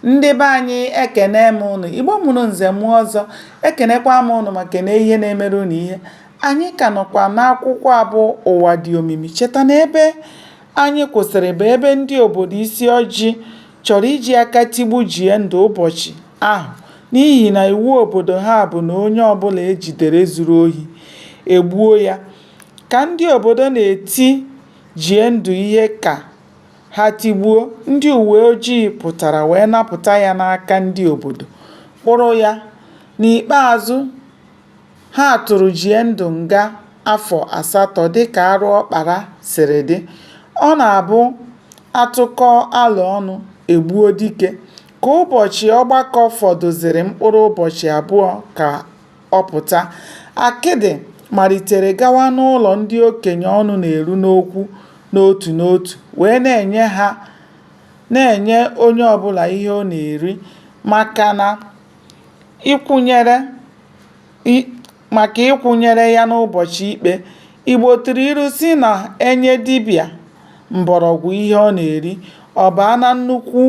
Ndị be anyị ekene m ụnụ, Igbo mụrụ nze mụọ ọzọ, ekenekwa m ụnụ ma kene ihe na-emere ụnụ ihe. Anyị ka nọkwa n'akwụkwọ a bụ Ụwa dị omimi. Cheta na ebe anyị kwụsịrị bụ ebe ndị obodo Isiọjị chọrọ iji aka tigbu Jiendụ ụbọchị ahụ n'ihi na iwu obodo ha bụ na onye ọbụla e jidere zuru ohi, e gbuo ya. Ka ndị obodo na-eti Jiendụ ihe ka Ha tigbuo, ndị uweojii pụtara wee napụta ya n'aka ndị obodo kpụrụ ya. N'ikpeazụ, ha tụrụ Jiendụ nga afọ asatọ dịka arụ ọ kpara siri dị. Ọ na-abụ a tụkọọ alo ọnụ, e gbuo dike. Ka ụbọchị ọgbakọ fọdụzịrị mkpụrụ ụbọchị abụọ ka ọ pụta, Akịdị malitere gawa n'ụlọ ndị okenye ọnụ na-eru n'okwu n'otu n'otu wee na-enye ha na-enye onye ọbụla ihe ọ na-eri maka na ịkwụnyere maka ịkwụnyere ya n'ụbọchị ikpe. Igbo tụrụ ilu sị na e nye dibịa mgbọrọgwụ ihe ọ na-eri, ọ baa na nnukwu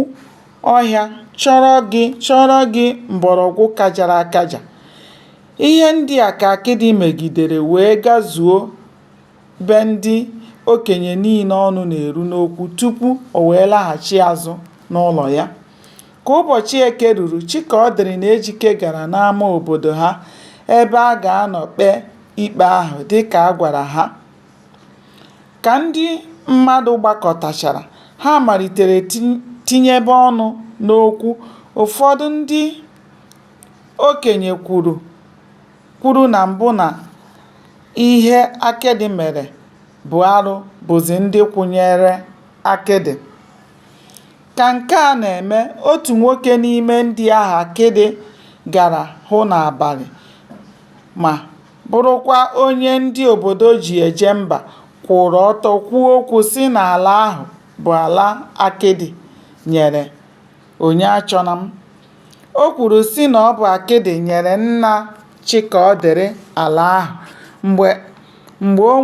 ọhịa chọrọ gị chọrọ gị mgbọrọgwụ kajara akaja. Ihe ndị a ka Akịdị megidere wee gazuo be ndị okenye niile ọnụ na-eru n'okwu tupu o wee laghachi azụ n'ụlọ ya. Ka ụbọchị Eke ruru, Chikaọdịrị na Ejike gara n'ama obodo ha ebe a ga-anọ kpee ikpe ahụ dịka a gwara ha. Ka ndị mmadụ gbakọtachara, ha malitere tinyebe ọnụ n'okwu. Ụfọdụ ndị okenye kwuru kwuru na mbụ na ihe Akịdị mere bụ arụ bụzi ndị kwụnyeere Akịdị. Ka nke a na-eme, otu nwoke n'ime ndị ahụ Akịdị gara hụ n'abalị ma bụrụkwa onye ndị obodo ji eje mba kwụụrụ ọtọ kwuo okwu sị na ala ahụ bụ ala Akịdị nyere Onyeachọnam. O kwuru sị na ọ bụ Akịdị nyere nna Chikaọdịrị ala ahụ mgbe o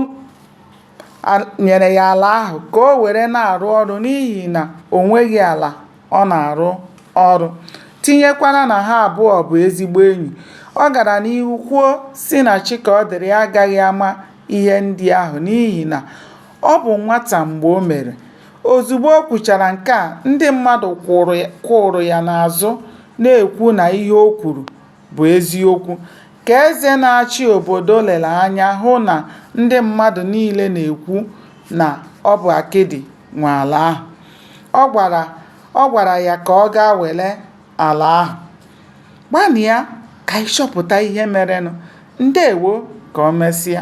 nyere ya ala ahụ ka o were na-arụ ọrụ n'ihi na o nweghị ala ọ na-arụ ọrụ tinyekwara na ha abụọ bụ ezigbo enyi. Ọ gara n'ihu kwuo sị na Chikaọdịrị agaghị ama ihe ndị ahụ n'ihi na ọ bụ nwata mgbe o mere. Ozugbo o kwuchara nke a, ndị mmadụ kwụụrụ ya n'azụ na-ekwu na ihe o kwuru bụ eziokwu, ka eze na-achị obodo lere anya hụ na ndị mmadụ niile na-ekwu na ọ bụ akịdị nwe ala ahụ. Ọ gwara ya ka ọ gaa were ala ahụ. Gbalịa ka ị chọpụta ihe merenụ. Ndewo! Ka o mesịa.